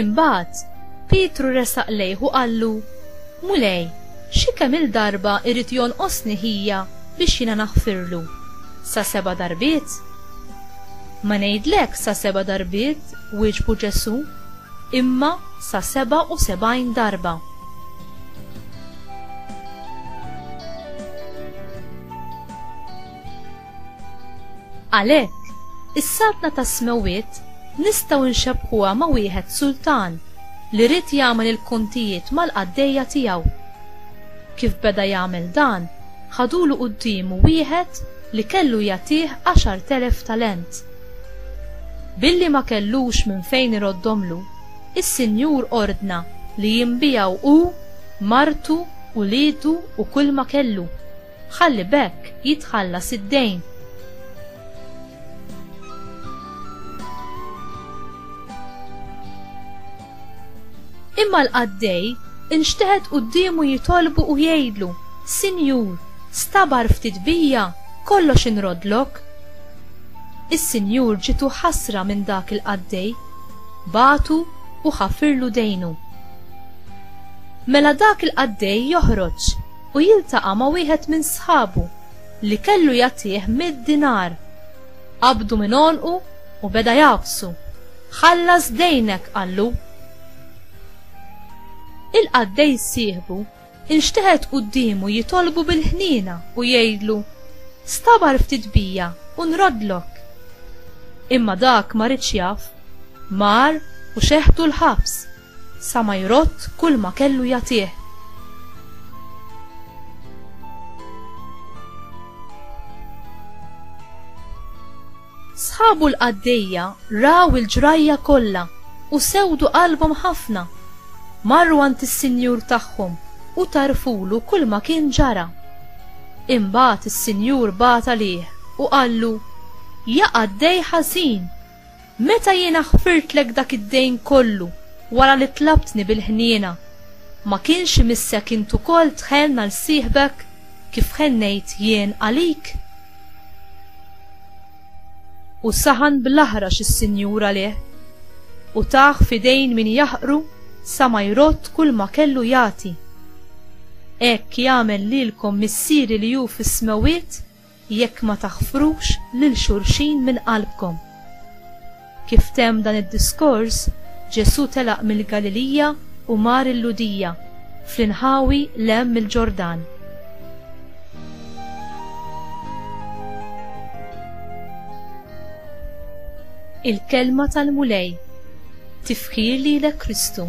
Imbagħad, Pietru resaq lejh u qallu, Mulej, xi kemm il-darba jrid jonqosni ħija biex jiena naħfirlu? Sa seba' darbiet? Ma ngħidlekx sa seba' darbiet, wieġbu Ġesù, imma sa sebgħa u sebgħin darba. Għalhekk, is-Saltna tas-Smewwiet nistgħu nxebbħuha ma' wieħed sultan li ried jagħmel il-kontijiet mal-qaddejja tiegħu. Kif beda jagħmel dan, ħadulu quddiemu wieħed li kellu jagħtih għaxart elef talent. Billi ma kellux minn fejn iroddhomlu, is-sinjur ordna li jinbiegħu hu, martu, uliedu u kulma kellu. Ħalli b'hekk jitħallas id-dejn. Imma l-qaddej inxteħet quddiemu jitolbu u jgħidlu, Sinjur, stabar ftit bija, kollox inroddlok. Is-Sinjur ġitu ħasra minn dak il-qaddej, batu u ħafirlu dejnu. Mela dak il-qaddej joħroġ u jiltaqa' ma' wieħed minn sħabu li kellu jagħtih mitt dinar. Qabdu minn għonqu u beda jgħabbsu, Ħallas dejnek! qallu. Il-qaddej sieħbu inxteħet quddiemu jitolbu bil-ħniena u jgħidlu, Stabar ftit bija u nroddlok. Imma dak ma ridx jaf, mar u xeħtu l-ħabs. Sa ma jrodd kulma kellu jagħtih. Sħabu l-qaddejja raw il-ġrajja kollha u sewdu qalbhom ħafna. Marru għand is-sinjur tagħhom u tgħarrfulu kulma kien ġara. Imbagħad is-sinjur bagħat għalih u qallu, Ja qaddej ħażin! Meta jiena ħfirtlek dak id-dejn kollu wara li tlabtni bil-ħniena, ma kienx imissek int ukoll tħenn għal sieħbek kif ħennejt jien għalik? U saħan bl-aħrax is-Sinjur għalih, u tah f'idejn min jaħqru sa ma jrodd kulma kellu jagħti. Hekk jagħmel lilkom Missieri li hu fis-smewwiet jekk ma taħfrux lil xulxin minn qalbkom. Kif temm dan id-diskors, Ġesù telaq mill-Galilija u mar il-Lhudija, fl-inħawi 'l hemm mill-Ġordan. Il-Kelma tal-Mulej Tifħir lilek Kristu.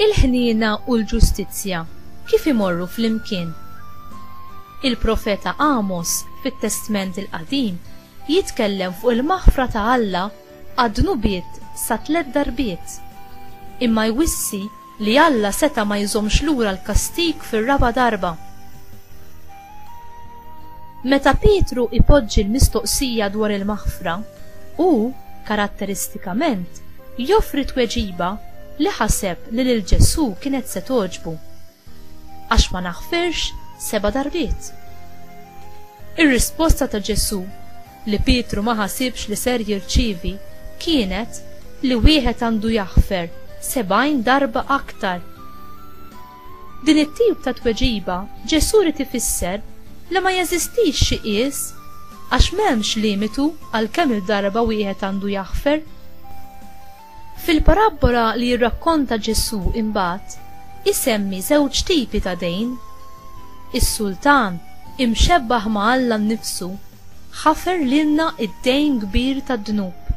Il-ħniena u l-ġustizzja kif imorru flimkien? Il-profeta Għamos fit-Testment il-Qadim jitkellem fuq il-maħfra ta' Alla għad-dnubiet sa tliet darbiet. Imma jwissi li Alla seta' ma jżommx lura l-kastig fir-raba' darba. Meta Pietru ipoġġi l-mistoqsija dwar il-maħfra, hu, karatteristikament, joffri tweġiba li ħaseb li lil Ġesù kienet se togħġbu, Għax ma naħfirx seba' darbiet. Ir-risposta ta' Ġesù, li Pietru ma ħasibx li ser jirċievi, kienet li wieħed għandu jaħfer sebgħin darba aktar. Din it-tip ta' tweġiba Ġesù ried ifisser li ma jeżistix xi qies għax m'hemmx limitu għal kemm-il darba wieħed għandu jaħfer. Fil-parabbola li jirrakkonta Ġesù imbagħad isemmi żewġ tipi ta' dejn. Is-sultan, imxebbaħ ma' Alla nnifsu, ħafer lilna d-dejn kbir tad-dnub.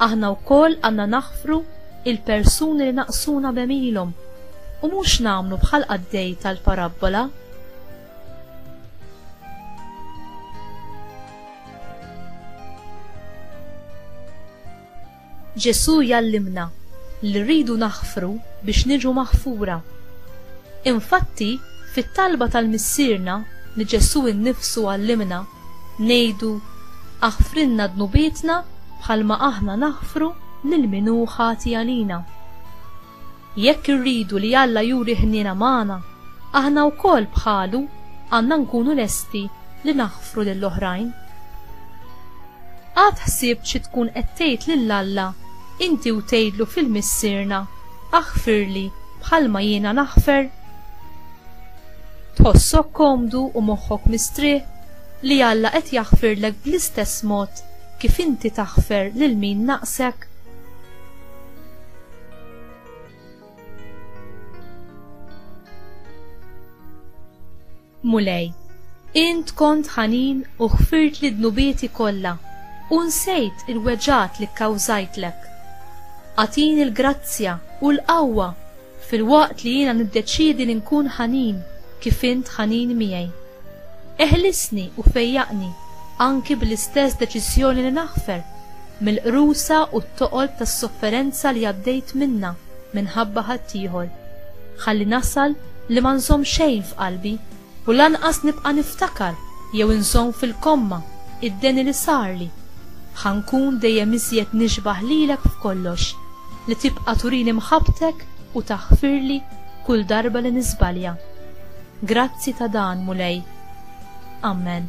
Aħna wkoll għandna naħfru il-persuni li naqsuna b'għemilhom u mhux nagħmlu bħall-qaddej tal-parabbola. Ġesù jallimna li rridu naħfru biex niġu maħfura. Infatti, fit-talba tal-Missierna li Ġesù nnifsu għallimna Ngħidu, Aħfrilna dnubietna bħalma aħna naħfru lil min hu ħati għalina. Jekk irridu li Alla juri ħniena magħna, aħna wkoll bħalu għandna nkunu lesti li naħfru lill-oħrajn. Qatt ħsibt xi tkun qed tgħid lil Alla inti u tgħidlu fil-Missierna, Aħfirli bħalma jiena naħfer? Tħossok komdu u moħħok mistrieħ li Alla qed jaħfirlek bl-istess mod kif inti taħfer lil min naqsek? Mulej, int kont ħanin u ħfirt li dnubieti kollha u nsejt il-weġat li kkawżajtlek. Atin il-grazzja u l-qawwa Filwaqt li jiena niddeċiedi li nkun ħanin kif int ħanin miegħi. Eħlisni u fejjaqni anki bl-istess deċiżjoni li naħfer mill-qrusa u t-toqob tas-sofferenza li għaddejt minnha minħabba ħaddieħor. Ħalli nasal li ma nżomm xejn f'qalbi. U lanqas nibqa' niftakar jew inżomm fil-komma id-deni li sarli. Ħa nkun dejjem iżjed nixbah lilek f'kollox, li tibqa' turini mħabbtek u taħfirli kull darba li niżbalja. Grazzi ta' dan, Mulej. Ammen.